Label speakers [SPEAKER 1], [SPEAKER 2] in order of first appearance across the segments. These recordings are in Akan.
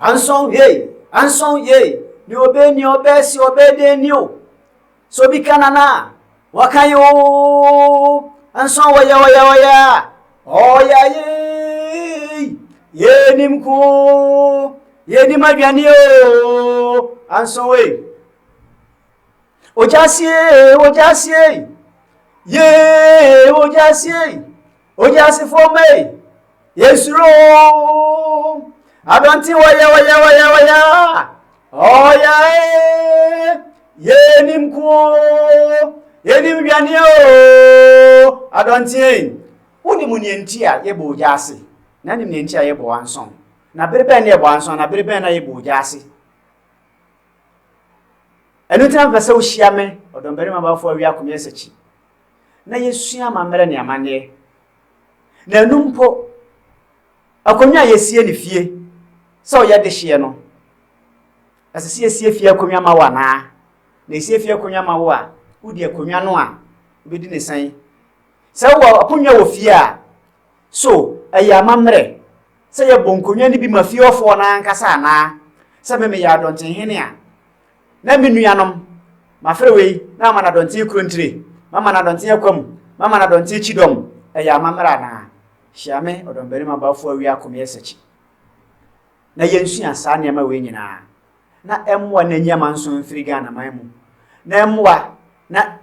[SPEAKER 1] Ansɔn yei, ansɔn yei, ni ɔbɛ ni ɔbɛ si ɔbɛ de ni o. So bi ka nana, waka yi ooo. Ansɔn ɔya ɔya ɔya, ɔya yei. Yɛnim ko, yɛnim aduane ooo. Ansɔn wei. Ogyasiei, ogyasiei, yee, ogyasiei, ogyasefo mei, yesuro, adɔnte wɔyɛ wɔyɛ wɔyɛ wɔyɛ, ɔyɛ, yenim ko, yenim dwane o, adɔnteei. Wonim nea nti a yɛbɔ ogya ase, na nim nea nti a yɛbɔ ansɔn. Na bere bɛn na yɛbɔ ansɔn, na bere bɛn na yɛbɔ ogya ase. ɛno nti na mepɛ sɛ wohyia me ɔdɔmbarima bafo awi akomyɛ sakyi na yɛsua amammerɛ ne amanneɛ na ɛno mpo akonnwa a yɛsie ne fie sɛ ɔyɛ dehyeɛ no ɛsɛ sɛ yɛsie fie akonnwa ma wo anaa na ɛsie fie akonnwa ma wo a wodi akonnwa no a wobɛdi ne sɛn sɛ wowɔ akonnwa wɔ fie a So ɛyɛ amammerɛ sɛ yɛbɔ nkonnwa no bi ma fie hɔfoɔ no ara ankasa anaa? Sɛ me meyɛ Adɔnkye Hene a, na me nuanom, mafrɛ wei na mama no Adɔnkye Kurontire, mama no Adɔnkye Akwamu, mama no Adɔnkye Kyidɔm. Ɛyɛ amammerɛ anaa? Hyia me, Ɔdɔmbarima Bafo Awia Akomeɛ Sakyi. na yɛnsua saa nneɛma wei nyinaa na ɛmmoa na ɛnyi amanson mfiri Ghanaman mu na ɛmmoa na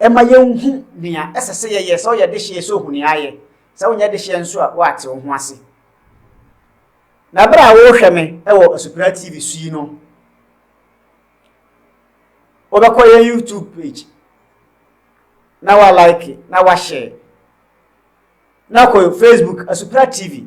[SPEAKER 1] ɛma yɛnhu nea ɛsɛ sɛ yɛyɛ, sɛ ɔyɛ dehyeɛ sɛ ɔhu nea ayɛ, sɛ wonyɛ dehyeɛ nso a woate wo ho ase. Na berɛ a wohwɛ me wɔ Asupra TV so yi no, wobɛkɔ yɛn YouTube page na wa like na wa share na kɔ Facebook Asupra TV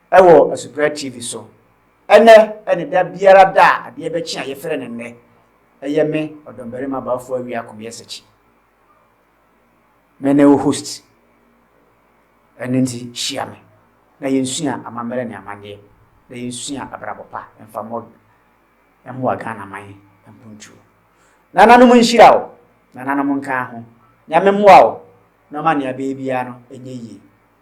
[SPEAKER 1] Wɔ Asuprɛ TV so. Ɛnɛ ne da biara da a adeɛ bɛkye a yɛfrɛ no nnɛ. Ɛyɛ me, Ɔdɔmbarima Baafo Awia Komiasakyi. Me ne wo host. Ɛno nti hyia me na yɛnsua amammerɛ ne amanneɛ na yɛnsua abrabɔ pa mfa mmɔ mmoa Ghana man mpontuo. Nananom nhyira wo, nananom nka ho. Nyame mmoa wo na ɔma nea bɛyɛ biara no nyɛ yie.